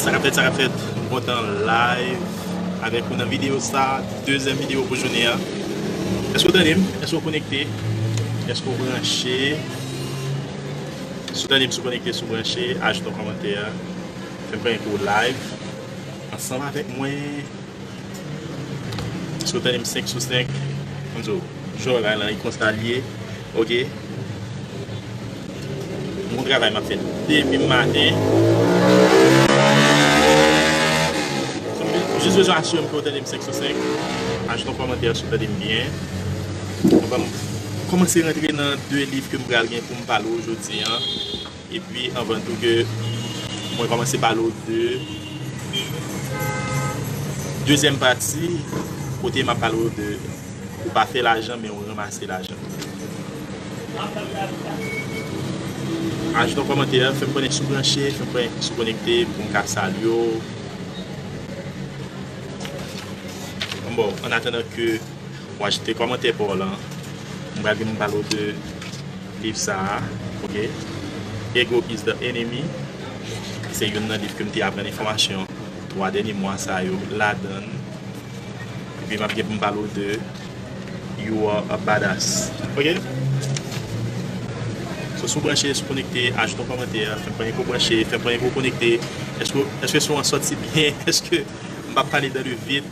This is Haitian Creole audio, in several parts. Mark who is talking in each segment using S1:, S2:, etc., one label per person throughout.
S1: Sakapfèt sakapfèt m kontan live avèk ou nan videyo sa, dezyèm videyo pou jounen an. Èske ou tande m? Èske ou konekte? Èske ou branche? Si ou tande m, si ou konekte, si ou branche, ajoute yon kòmantè, fè m konnen ke ou live ansanm avèk mwen. Si w tande m 5 sou 5, m di w, jwè bagay lan e konsa l ye ok. Bon travay m ap fè demen maten. Jis bezwen asire m ke w tande m 5 sou 5. Ajoute yon kòmantè si w tande m byen. Anvan m kòmanse rantre nan 2 liv ke m pral gen pou m pale w jodi an. Epi anvan tou ke mwen komanse pale w de dezyèm pati kote map pale w de ou pa fè lajan men ou ranmase lajan. Ajoute yon kòmantè, fè m konnen si w branche, fè m konnen si w konekte pou m ka salye w. Bon, ann atandan ke w ajoute kòmantè pa w lan, mwen pral vin pale w de. Liv sa a, ok. Ego is the enemy, se youn nan liv ke m te aprann enfòmasyon 3 dènye mwa sa yo ladan l. Epi m ap gen pou m pale w de You are a badass, ok. So, si w branche, si w konekte, ajoute yon kòmantè, fè m konnen ke w branche, fè m konnen ke w konekte. Èske son an soti byen? Èske m pa pale dan le vid?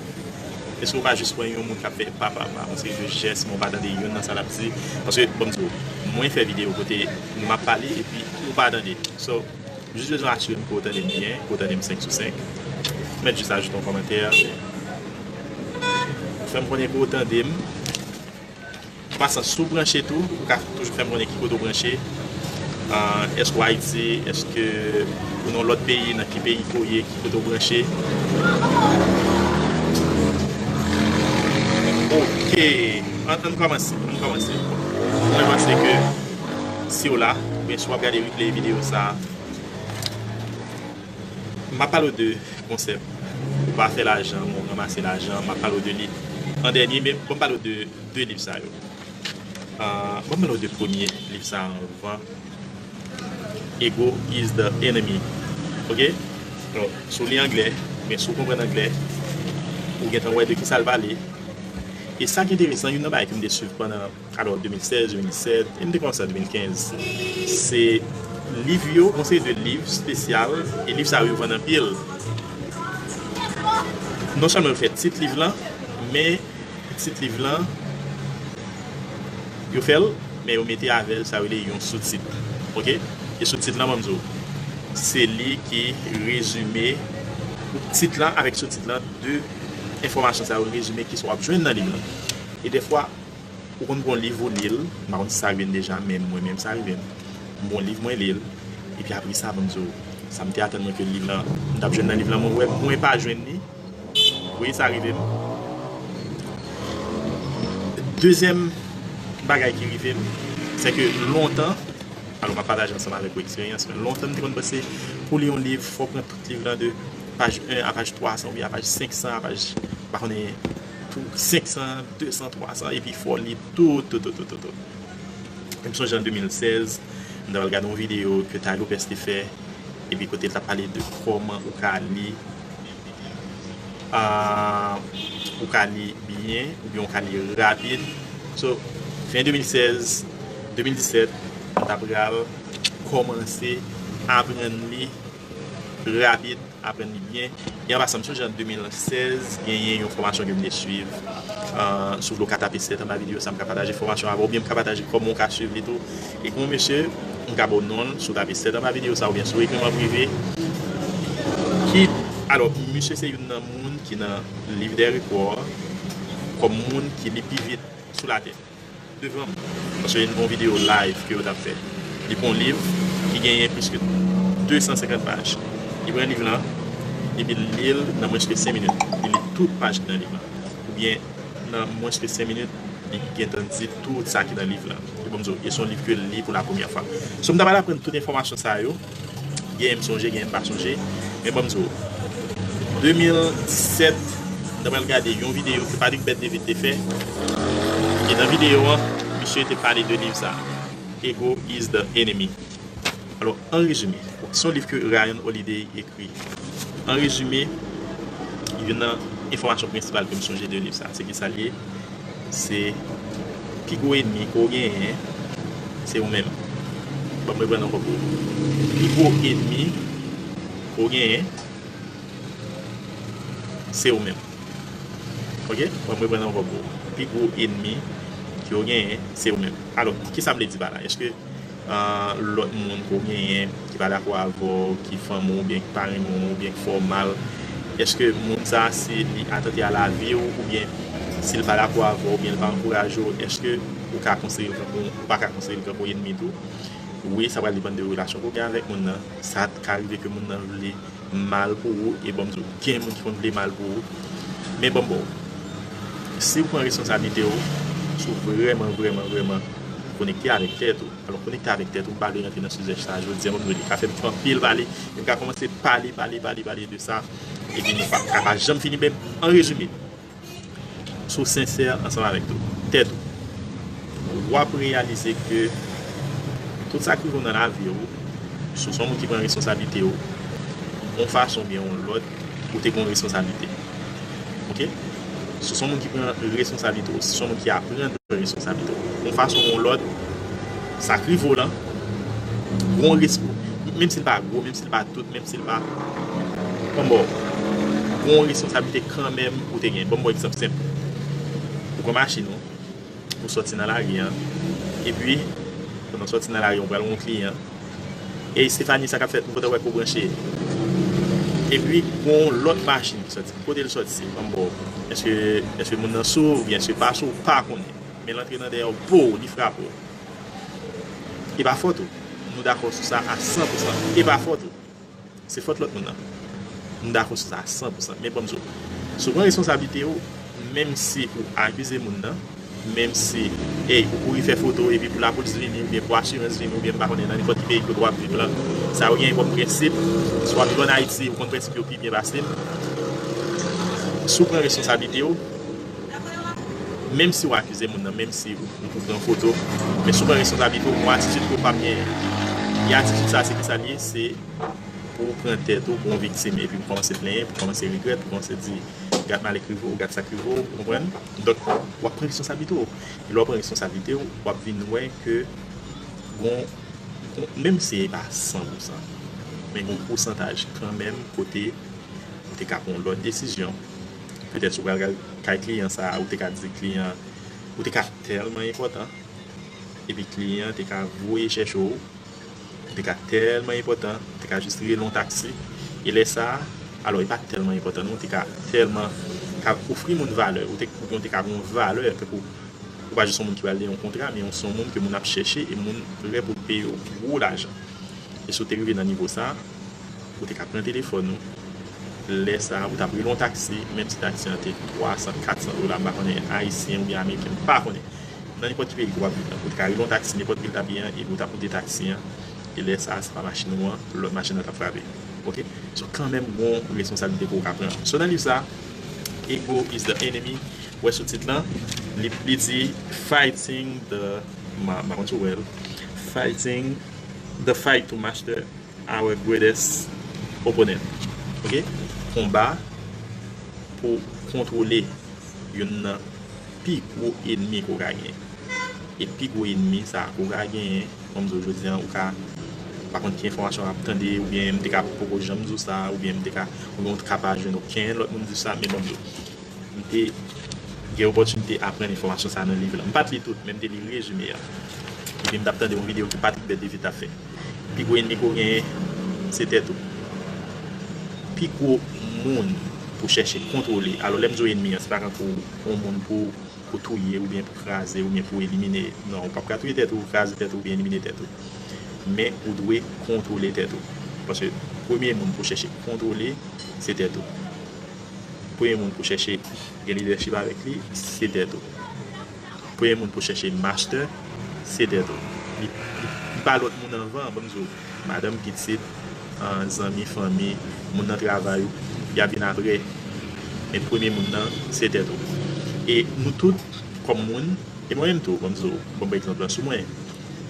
S1: Eske ou ka jis wè yon moun kap fè papapa paske jis jès men ou pa tande youn nan sa lap di paske banm di ou mwen fè video kote map pale epi ou pa tande so m jis bezwen asirem ke ou tande m byen ke ou tande m 5 sou 5 ou mèt jis ajoute yon kòmantè fèm konnen ke ou tande m. Pasa si w branche tou ou ka toujou fè m konnen ki kote w branche èske w ayiti èske ou nan lòt peyi nan ki peyi ke w ye ki kote w branche ok an n kòmanse an n kòmanse mwen panse ke si w la oubyen si w ap gade replay videyo sa. Map pale w de konsèp ou pa fè lajan men w ranmase lajan, map pale w de liv an dènye men banm pale w de 2 liv sa yo banm pale w de premye liv sa anvan Ego is the enemy ok si w li anglè oubyen si w konprann anglè ou gentan wè de kisa l pale e sa ki enteresan youn nan bagay ki m te swiv pandan Alò 2016, 2017, e m te komanse an 2015, se liv yo, yon seri de liv spesyal, e liv sa yo vann anpil. Non sèlman yo fè tit liv lan, men tit liv lan, yo fè l, men yo mete avè l sa yo rele yon soutit. Ok? E soutit lan, ban m di w, se li ki rezime, tit lan avèk soutit lan, de enfòmasyon sa yo rezime ki sa w ap jwenn nan liv lan. E dèfwa. Ou konn pran yon liv ou li l, m pa konn si sa rive n deja men mwen menm sa rive m. M pran yon liv mwen li l, epi apresa avan m di w sa m te atann mwen ke liv lan, m t ap jwenn nan liv lan mwen wè mwen pa jwenn li, wi sa rive m. Dezyèm bagay ki rive m, se ke lontan, alò m ap pataje ansanm avèk ou eksperyans mwen, lontan m te konn panse pou w li yon liv fò w pran tout liv lan de paj 1 a paj 300 oubyen a paj 500 a paj m pa konnen. Pou 500, 200, 300 epi fò li tout, tout, tout, tout, tout. M sonje an 2016, m ta pral gade yon videyo ke Tay Lopez te fè, epi kote l ta pale de kòman ou ka li, ou ka li byen, oubyen ou ka li rapid. So, fen 2016, 2017, m ta pral kòmanse aprann li. Rabid aprann li byen. E anpasan, m sonje an 2016, genyen yon fòmasyon ke m te suiv sou vle w ka tape 7 anba videyo sa m ka pataje fòmasyon avè w oubyen m ka pataje kòman w ka suiv li tou. E gen yon mesye, m ka ba w non l, si w tape 7 anba videyo sa oubyen si w ekri m an prive, ki, alò, misye se youn nan moun ki nan Liv dè Rekò kòm moun ki li pi vit sou latè. Devan m, paske yon bon videyo live ke yo tap fè. Li pran yon liv ki genyen plis ke 250 paj. Li pran liv lan epi l li l nan mwens ke 5 minit. Li li tout paj ki nan liv lan. Oubyen nan mwens ke 5 minit li gentan di tout sa ki nan liv lan. Epi m di w, e se yon liv ke l li pou la premyè fwa. So m ta pral aprann tout enfòmasyon sa yo. Genyen m sonje genyen m pa sonje men banm di w 2017 m ta pral gade yon videyo ke Patrick Bert David te fè e nan videyo an misye te pale de liv sa Ego is the enemy alò an rezime se yon liv ke Ryan Holiday ekri an rezime youn nan enfòmasyon prensipal ke m sonje de liv sa se ki sa l ye Se pi gwo enmi ke w genyen se ou menm. Ban m reprann ankò pou ou. Pi gwo enmi ke w genyen se ou menm. Ok, ban m reprann ankò pou ou. Pi gwo enmi ke w genyen se ou menm. Alò, kisa m vle di pa la? Eske. lòt moun ke w genyen ki pa dakò avè w, ki fanmi w oubyen ki pa renmen w oubyen ki fè w mal, èske moun sa a si li atante a lavi w oubyen si l pa dakò avè w oubyen li pa ankouraje w èske ou ka konsidere l tankou ou pa ka konsidere l tankou ènmi tou? Wi, sa pral depann de relasyon ke w gen avèk moun nan, sa ka rive ke moun nan vle. mal pou ou e banm diw gen moun ki konn vle mal pou ou men banm baw siw pran responsablite ou sou vrèman vrèman vrèman konekte avèk tèt ou alò konekte avèk tèt ou mpa vle rantre nan sijè sa jodia banm rele kafèm fè anpil pale em ka kòmanse pale pale pale pale de sa epi nou pap ka pa janm fini men an rezime. si w sensè ansanm avèk tèt ou, w ap reyalize ke tout sa k rive w nan lavi w, si w se yon moun ki pran responsablite w, yon fason oubyen yon lòt, ou te gen yon responsablite. Ok? Si w se yon moun ki pran responsablite w, si w se yon moun ki aprann pran responsablite w, yon fason oubyen yon lòt, sa k rive w lan, menm si l pa gwo, menm si l pa tout, Silva, Bon boo, ou gen yon responsablite kanmenm ou te gen. Ban m ba w egzanp senp. Ou pran machin ou, ou soti nan lari an, epi, pandan w soti nan lari an, ou pral wè yon kliyan. Ey Stéphanie, sa k ap fèt? M kontan wè ke w branche. Epi, gen yon lòt machin ki soti. Ki kote l soti? Ban m ba w. Èske moun nan sou oubyen èske l pa sou, ou pa konnen. Men l antre nan dèyè w, pow! Li frape w. E pa fòt ou. Nou dakò sou sa a san pou san. E pa fòt ou. Se fòt lòt moun nan. Nou dakò sou sa a san pou san. Men banm di w. Si w pran responsablite w, menm si pou akize moun nan, menm si ey ou kouri fè foto epi pou lapolis vini oubyen pou asirans vini oubyen m pa konnen nan nenpòt ki peyi kote w ap viv lan, sa ou genyen kòm prensip, si w ap viv an Ayiti, ou konn prensip yo pi byen pase m. Si w pran responsablite w. Menm si ou akize moun nan, menm si ou pran foto, men si ou pran responsablite ou, yon atitid ke ou pap genyen. E atitid sa a se ki sa l ye? Se pou ou pran tèt ou pou yon viktim epi pou kòmanse plenyen, pou kòmanse regrèt, pou kòmanse di gad malè k rive ou, gad sa k rive ou, ou konprann? Donk, w ap pran responsablite ou. E lè w pran responsablite ou, w ap vin wè ke gon, menm si e pa san pou san, men gon pousantaj kanmenm kote ou te ka pran yon lòt desizyon. Petèt si w pral kay kliyan sa a, ou te ka di kliyan an ou te ka tèlman enpòtan epi kliyan an te ka voye chèche w, ou te ka tèlman enpòtan, ou te ka jis rele yon taksi e lè sa a, alò e pa tèlman enpòtan non, ou te ka tèlman ka ofri moun valè, oubyen ou te ka gen yon valè, tankou ou pa jis yon moun ki pral li yon kontra, men ou se yon moun ke moun ap chèche e moun prè pou l peye w gwo lajan. E si w te rive nan nivo sa a. Ou te ka pran telefòn ou, lè sa a ou t ap rele yon taksi, menm si taksi an te 300, 400 dola, m pa konnen, ayisyen oubyen ameriken, m pa konnen. Nan nenpòt ki peyi ke w ap viv la, ou te ka rele yon taksi nenpòt vil w t ap ye an, epi ou t ap monte taksi an, e lè sa a se pa machin ou an, lòt machin nan t ap frape. Ok? So, kanmenm gen yon responsablite ke ou ka pran. So, nan liv sa a, Ego is the Enemy, ou wè sou tit lan, li li di, Fighting the, m pa konn si w wè l, Fighting, The Fight to Master. Our greatest opponent ok konba pou kontwole youn nan pi gwo enmi ke w ka genyen e pi gwo enmi sa ke w ka genyen kòm m di w jodi an ou ka pa konn ki enfòmasyon w ap tande oubyen m te ka poko janm di w sa oubyen m te ka oubyen ou te ka pa jwenn oken lòt moun di w sa men bon m di w m te gen opòtinite aprann enfòmasyon sa nan liv la m pa t li tout men m te li rezime a epi m t ap tande yon videyo ke Patrick Bèdevit t ap fè. Pi gwo enmi ke w genyen se tèt ou. Pi gwo moun pou chèche kontwole, alò lè m di w enmi an se pa tankou yon moun pou ou touye oubyen pou kraze oubyen pou elimine non, ou pap ka touye tèt ou, kraze tèt ou oubyen elimine tèt ou. Men ou dwe kontwole tèt ou. Paske premye moun pou w chèche kontwole se tèt ou. Premye moun pou w chèche gen lidèchip avèk li se tèt ou. Premye moun pou chèche master se tèt ou. Li pa lòt moun anvan, banm di w. Madanm, pitit, zanmi, fanmi, moun nan travay ou, y ap vin aprè. Men premye moun nan se tèt ou. E nou tout kòm moun, e mwen menm tou, banm di w, banm pran egzanp lan sou mwen.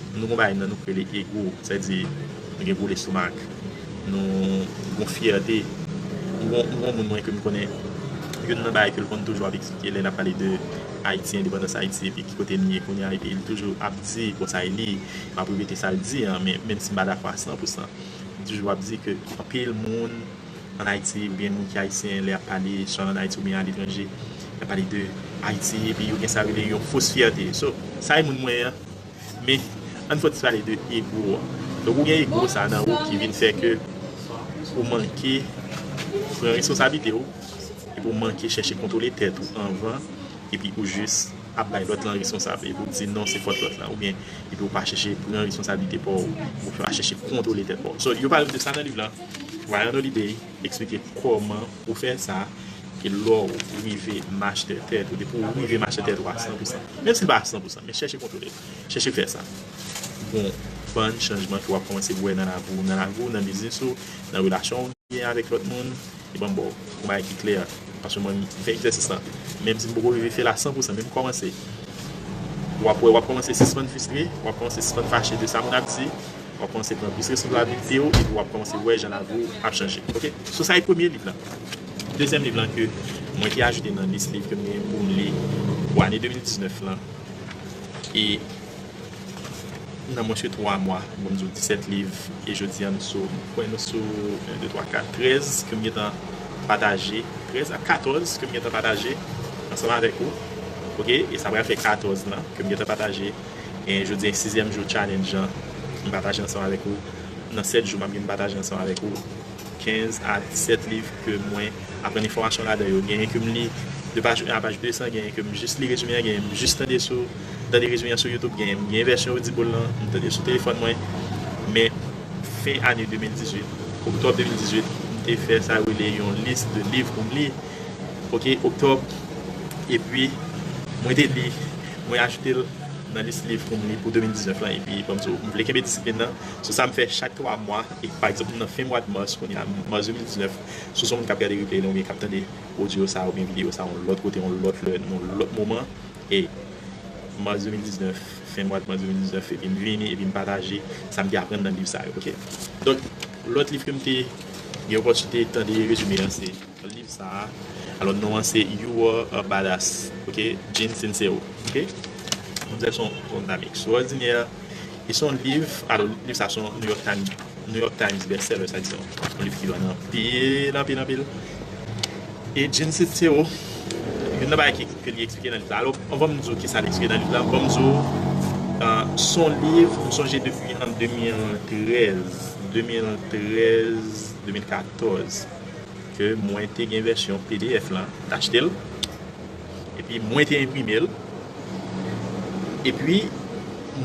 S1: Nou gen yon bagay nan nou ki rele ego, sa vle di nou gen gwo lestomak. Nou gon fyète. M gon moun mwen ke m konnen, youn nan bagay ke l konn toujou ap eksplike lè n ap pale de Ayiti, endepandans Ayiti epi ki kote n ye kounye a epi l toujou ap di konsa e li, m ap repete sa l di an men menm si m pa dakò a san pou san, li toujou ap di ke anpil moun an Ayiti oubyen moun ki Ayisyen lè y ap pale swa an Ayiti oubyen aletranje y ap pale de Ayiti epi yo gen sa yo rele yon fos fyète. So, sa e moun mwen an. Men, ann fòtis pale de ego a. Donk ou gen ego sa nan ou ki vin fè ke ou manke pran responsablite ou, epi ou manke chèche kontwole tèt ou anvan, epi ou jis ap bay lòt lan responsab, epi ou di non se fòt lòt lan, oubyen epi ou pa chèche pran responsablite pa w, ou pa chèche kontwole tèt pa w. So, yo pale de sa nan liv lan, Ryan Holiday. Eksplike kòman ou fè sa ke lè w rive machte tèt ou, depi w rive machte tèt ou a san pou san, menm si l pa a san pou san, men chèche kontwole l, chèche fè sa bon bann chanjman ke w ap kòmanse wè nan lavi w, nan lavi w, nan biznis ou, nan relasyon w genyen avèk lòt moun, e ban m ba w yon bagay ki klè, paske mwen menm m fè egzèsis lan, menm si m poko rive fè l a san pou san, men m kòmanse, w ap wè w ap kòmanse sispann fistre, w ap kòmanse sispann fache de sa moun ap di. Wap kòmanse pran plis responsablite ou epi wap kòmanse wè jan lavi ou ap chanje ok so sa e premye liv la dezyèm liv lan ke mwen te ajoute nan lis liv kem gen poum li pou ane 2019 lan e nan mwens ke 3 mwa bon m di w 17 liv e jodi an nou sou m kwè nou sou 1 2 3 4 13 kem gentan pataje 13 a 14 kem gentan pataje ansanm avèk ou ok e sa pral fè 14 lan kem gentan pataje. e jodi a sizyèm jou challenge an m pataje ansanm avèk ou nan 7 jou map gen m pataje ansanm avèk ou 15 a 17 liv ke mwen aprann enfòmasyon ladan yo genyen kem li de paj 1 a paj 200 genyen kem jis li rezime an genyen m jis tande sou tande rezime an sou youtube genyen m gen vèsyon audible lan m tande sou telefòn mwen men fen ane 2018 oktòb 2018 m te fè sa yo rele yon lis de liv pou m li ok oktòb epi mwen te li. Mwen ajoute l nan lis liv pou m li pou 2019 lan epi banm di w m vle kenbe disiplin nan sou sa m fè chak 3 mwa e pa egzanp nan fen mwad mas kounye a mas 2019 si w son moun k ap gade replay lan oubyen k ap tande odyo sa oubyen videyo sa yon lòt kote yon lòt lè nan yon lòt moman e mas 2019 fen mwad mas 2019 epi m vini epi m pataje sa m te aprann nan liv sa yo ok donk lòt liv ke m te gen opòtinite tande rezime an se. Liv sa a alò non an se You Are a Badass ok Gene Sincero ok manzè son yon dam ekstwòdinè e son liv alò liv sa son New York Times New York Times best seller sa di son yon liv ki vann anpil anpil anpil e Gene Sincero youn nan bagay ke li eksplike nan liv la alò anvan m di w kisa li eksplike nan liv la ban m di w son liv m sonje depi an 2013 2013 2014. ke mwen te gen vèsyon pdf lan t achte l epi mwen te enprime l epi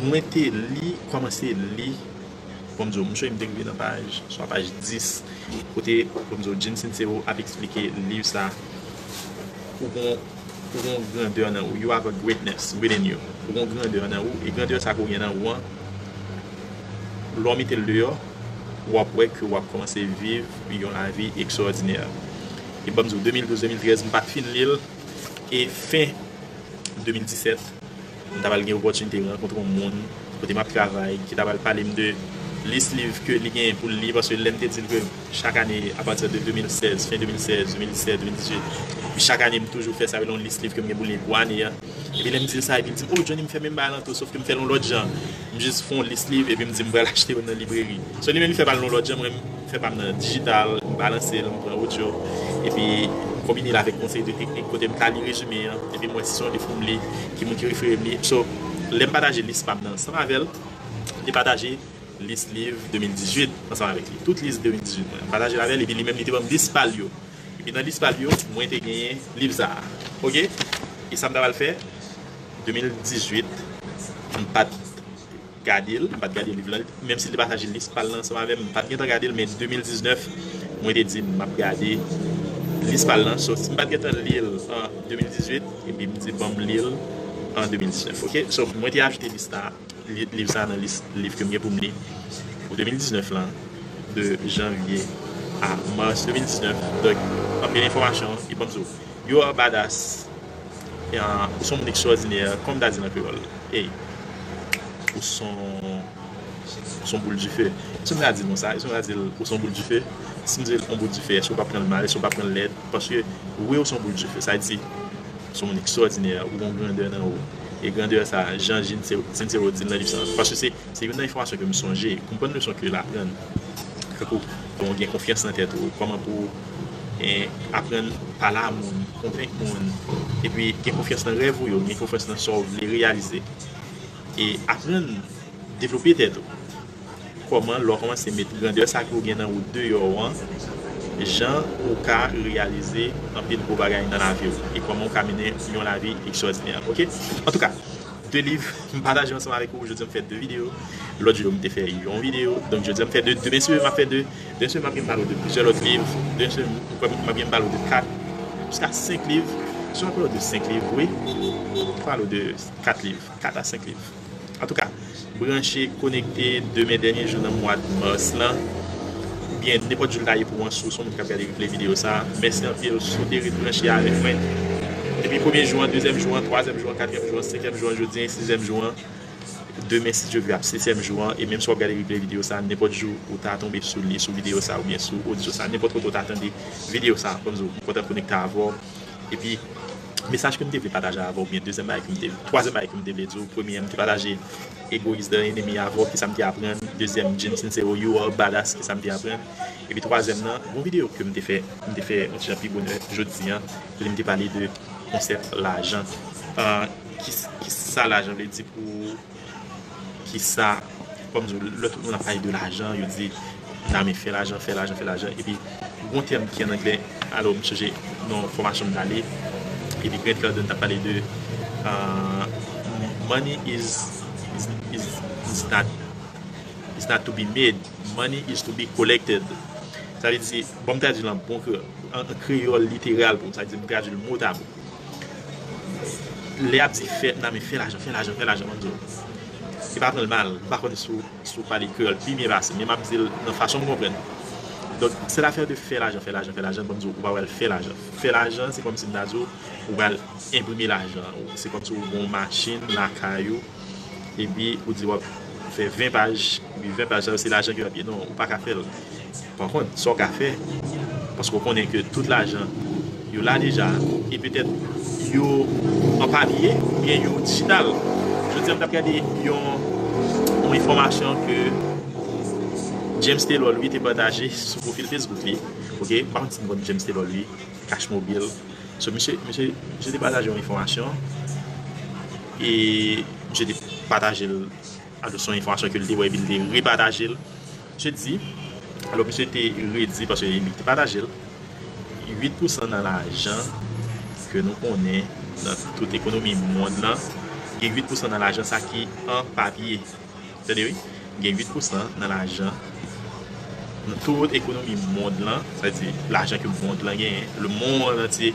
S1: mwen te li kòmanse li bon m di w m sonje m te rive nan paj swa paj 10 kote bon m di w Jim Sincero ap eksplike liv sa ou gon ou gon grandè nan ou you have a greatness within you ou gon grandè nan ou e grandè sa ke w gen nan ou an lè w mete l deyò wap wè ke wap kòmanse viv yon lavi ekstwòdinè. E banm di w 2012, 2013 m pat fin li l e fen 2017 m ta pral gen opòtinite rankontre yon moun kote map travay ki ta pral pale m de lis liv ke li genyen pou l li paske lè m te di l ke chak ane apati de 2016, fen 2016, 2017, 2018 epi chak ane m toujou fè sa yo rele yon lis liv ke m gen pou li pou ane a. Epi lè m di l sa epi l di m, o Johnny m fè menm bagay lan tou sof ke m fè l yon lòt jan. M jis fè yon lis liv epi m di m pral achte yo nan libreri. So li menm li fè pa l yon lòt jan, mwen m fè pa m nan dijital, m balanse l, m pran odyo epi m konbine l avèk yon seri de teknik kote m ka li rezime an epi m wè si se yon liv pou m li, ki moun ki refere m li. So, lè m pataje lis pa m nan ansanm avè l, m te pataje lis liv 2018 ansanm avèk li. Tout lis 2018 mwen an, m pataje l avè l epi li menm li te ban m lis pa l yo. E nan lis pal yo mwen te genyen liv sa a ok e sam ta pral fè 2018 mpat gadel mpat gade liv lan menm sil te pataje lis pal lan ansanm avèm mpat gentan gadel men 2019 mwen te di map gade lis pal lan so sim pat gentan lil an 2018 epi mdi banm lil an 2019 ok so mwen te achte lis la. Liv sa nan lis liv ke m gen pou m li pou 2019 lan, de janvye a mas 2019. Donk, pa m gen enfòmasyon ki ban m sou You are badass, ou s on moun ekstwòdinè, kòm m ta di nan kreyòl, ey, ou s on, ou s on boul dife. Èske m ka di l konsa? Èske m ka di l ou s on boul dife? Si m di l on boul dife, èske ou p ap pran l mal? Èske ou p ap pran l lèd? Paske, wi ou s on boul dife, sa di, ou s on moun ekstwòdinè, ou gen yon grandè nan ou. e grandè sa a jan Jin Sincero di l nan liv sa a. Paske se se youn nan enfòmasyon ke m sonje. Konprann leson ke l aprann. Tankou lè w gen konfyans nan tèt ou, kòman pou w aprann pale a moun, konvenk moun. Epi gen konfyans nan rèv ou yo, gen konfyans nan sa w vle reyalize. E aprann devlope tèt ou. Kòman lè w kòmanse met grandè sa ke w gen nan ou deyò an, jan ou ka reyalize anpil gwo bagay nan lavi w e kòman ou ka mennen yon lavi ekstwòdinè ok. Antouka 2 liv m pataje ansanm avèk ou jodi an m fè 2 videyo lòt jou yo m te fè yon videyo donk jodi an m fè 2 demen si w vle m ap fè 2 demen si w vle m ap gen pale w de plizyè lòt liv demen si w vle m ap gen pale w de 4 jiska 5 liv si w vle m ap pale w de 5 liv wi pale w de 4 liv. 4 a 5 liv. Antouka, branche, konekte demen dènye jou nan mwad Mars lan, oubyen nenpòt jou l ta ye pou an si w s on moun k ap gade replay videyo sa a. Mèsi anpil si w te ret branche avèk mwen depi premye jou an, dezyèm jou an, twazyèm jou an, katriyèm jou an, senkyèm jou an, jodi an e sizyèm jou an. Demen si Dye vle ap setyèm jou an e menm si w ap gade replay videyo sa a nenpòt jou ou ta tonbe sou li, sou videyo sa a oubyen sou odyo sa a, nenpòt kote w ta tande videyo sa a, fò m di w m kontan konekte avè w. Epi mesaj kem te vle pataje avèw byen dezyèm bagay kem te vle twazyèm bagay kem te vle diw premye m te pataje egoyis de enemi avèw kisam te aprann dezyèm Jim Sincero you are badass kisam te aprann epi twazyèm nan yon video kem te fè m te fè yon ti jan pi bonè jodi an kote m te pale de konsèp lajan kisa lajan vle di pou ou. kisa kom di w lè tout moun ap pale de lajan yo di name fè lajan fè lajan fè lajan epi gon tèm ki an anglè alo m sonje nan fòmasyon m t ale epi Grant Cardone t ap pale de money is is not is not to be made money is to be collected sa vle di bon m tradui l an bon kreyòl literal pou m sa vle di m tradui l mot a mot Lè yap di fè nan men fè lajan fè lajan fè lajan mande yo pa pranl mal m pa konn si w pale kreyòl pi byen pase m men map dil nan fason m konprann donk se lafè de fè lajan fè lajan fè lajan banm di w ou pa pral fè lajan fè lajan se kòmsi m ta di w ou pral enprime lajan se kòmsi w gen yon machin lakay ou epi ou di wap fè 20 paj epi 20 paj sa yo se lajan ki wap ye non ou pa ka fèl pa kont sa ou ka fè paske ou konnen ke tout lajan yo la deja e petèt yo an papye oubyen yo digital jodi an m tap gade yon yon enfòmasyon ke James Taylor Louis te pataje sou profil Facebook li ok m pa kont si nou konn James Taylor Louis Cash Mobile. So misye misye te pataje yon enfòmasyon e misye te patajel alò son enfòmasyon ke li te wè epi li te repatajel misye di alò misye te redi paske li te patajel 8 pousan nan lajan ke nou konnen nan tout ekonomi mond lan gen 8 pousan nan lajan sa ki an papye. Tande wi, gen 8 pousan nan lajan, nan tout ekonomi mond lan, sa vle di lajan ke mond lan genyen, le mond antye,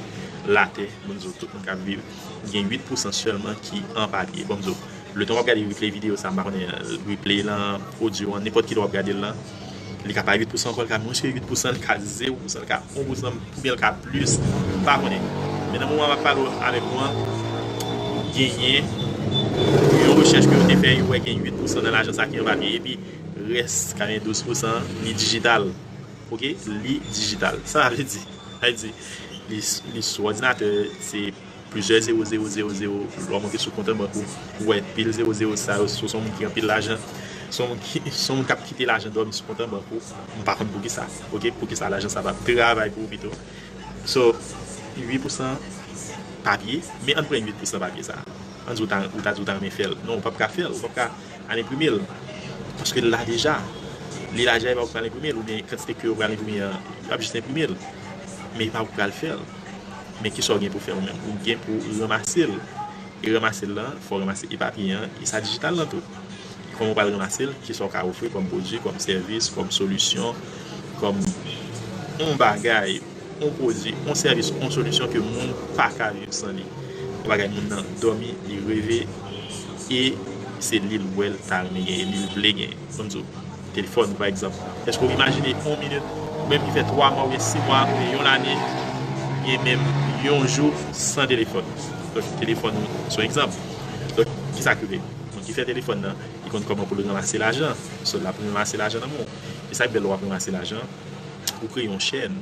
S1: latè, moun di w tout moun k ap viv, gen 8 pousan sèlman ki an papye. Bon m di w, letan w ap gade replay videyo sa, m pa konnen replay lan, odyo an, nenpòt ki lè w ap gade l lan, Li ka pa 8 pousan ankò, li ka mwens ke 8 pousan, li ka 0 pousan, li ka 1 pousan, oubyen li ka plis, m pa konnen. Men nan moman map pale avèk nou an, genyen yon rechèch ke yo te fè, yo wè gen 8 pousan nan lajan sa ki an papye, epi rès 92 pousan an, li dijital. Ok, li dijital. Sa vle di, sa vle di, li sou òdinatè, se. Plizyè zewo zewo zewo zewo lwa monte sou kont an bank ou pou wè pil zewo zewo sa yo si w son moun ki anpil lajan si w son moun kap kite lajan dòmi sou kont an bank ou m pa konn poukisa ok poukisa lajan sa pap travay pou ou pito so 8 pousan papye men ann pran 8 pousan papye sa ann di ou ta di ou ta renmen fèl non ou pap ka fèl ou pap ka al enprime l paske l la deja li la deja epa ou k pral enprime l oubyen kantite ke yo pral enprime an yo ap jis enprime l men epa ou k pral fèl. Men kisa w gen pou fè ou menm? Ou gen pou ranmase l. E ranmase l lan, fò w ranmase epapiye an, e sa dijital lan tou. E kòman w pral ranmase l? Kisa w ka ofri kòm pwodui, kòm sèvis, kòm solisyon, kòm on bagay, on pwodui, on sèvis, on solisyon ke moun pa ka viv san li? On bagay moun nan dòmi, li reve, e se li l wè l ta renmen genyen, li l vle genyen. Banm di w, Telefòn, pa egzanp. Èske ou imajine yon minit, ou menm ki fè twa mwa oubyen si mwa oubyen yon lane oubyen menm yon jou san telefòn? Donk, telefòn se yon egzanp. Donk, ki sa k rive? Moun ki fè telefòn nan, li konn kòman pou l ranmase lajan. So, l ap ranmase lajan nan men w. E sa k fè lè w ap ranmase lajan, ou kreye yon chèn.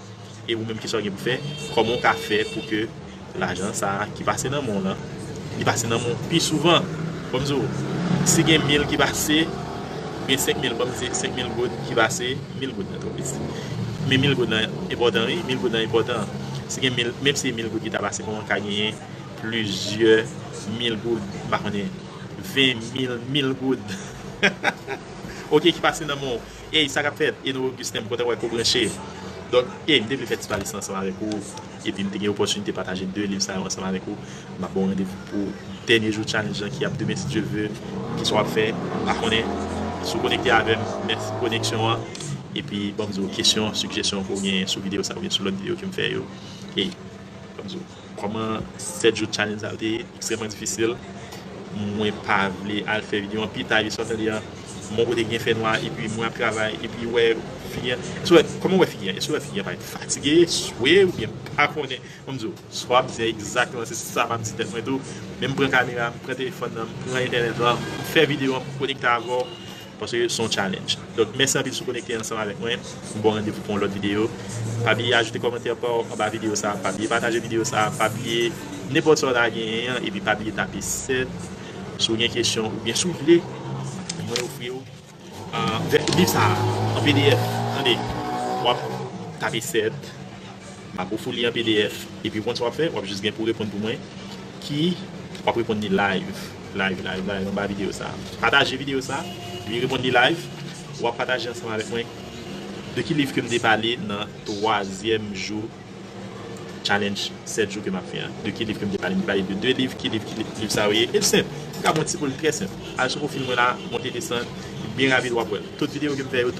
S1: E ou menm kisa ou gen pou fè? Kòman ou ka fè pou ke lajan sa a ki pase nan men w lan, li pase nan men w pi souvan? Fò m di w, si gen mil ki pase, ou gen senk mil, fò m di senk mil goud ki pase, mil goud nan twò piti. Men mil goud nan enpòtan wi, mil goud nan enpòtan. Si gen mil, menm si se mil goud ki ta pase, kòman ka genyen plizyè mil goud, m pa konnen, ven mil, mil goud, ok, ki pase nan men w? Ey sa kap fèt Eno Augustin m kontan wè ke w branche Donk ey m te vle fè ti pale sa ansanm avèk ou epi m te gen opòtinite pataje 2 liv sa yo ansanm avèk ou m ap ba w randevou pou dènye jou challenge lan ki ap demen si Dye ve kisa w ap fè m pa konnen si w konekte avè m mèsi pou koneksyon an epi banm di w kesyon sigjesyon ke w genyen sou videyo sa oubyen sou lòt videyo ke m fè yo ey banm di w. Kòman 7 jou challenge sa yo te ye? Ekstrèman difisil. Mwen pa vle al fè video an. Pi ta jesè wap tande an, m'en kote gen fè nwa epi mwen ap travay epi wè figi an. Eske'w wè, kòman wè figi an? Eske'w wè figi an parèt fatige, swe oubyen m'pa konnen. M'en m'di w, sa wap di an ekzakteman se sa m'ap di tèt mwen tou. Men m'pran kamera, m'pran telefòn nan, m'pran entènèt lan, m'fè video an pou m'konekte avè'w. Paske se yon challenge. Donk mèsi anpil si w konekte ansanm avèk mwen. M ba w randevou pou yon lòt videyo. Pa bliye ajoute kòmantè pa w anba videyo sa a. Pa bliye pataje videyo sa a. Pa bliye nenpòt sa w ta genyen an. Epi pa bliye tape 7 si w gen kesyon oubyen si w vle mwen ofri w vè liv sa a an pdf. Tande! W ap tape 7. Map ofou li an pdf. Epi ou konn sa wap fè wap jis gen pou reponn pou mwen ki wap reponn li live live live live anba video sa pataje video sa epi reponn li live wap pataje ansanm avèk mwen de ki liv kem te pale nan twazyèm jou challenge 7 jou ke map fè an de ki liv kem te pale m te pale de 2 liv ki liv ki liv sa yo ye el senp ou ka pran ti poul trè senp al sou pwofil mwen la monte desann byen rapid wap wèl tout video kem fè yo tout.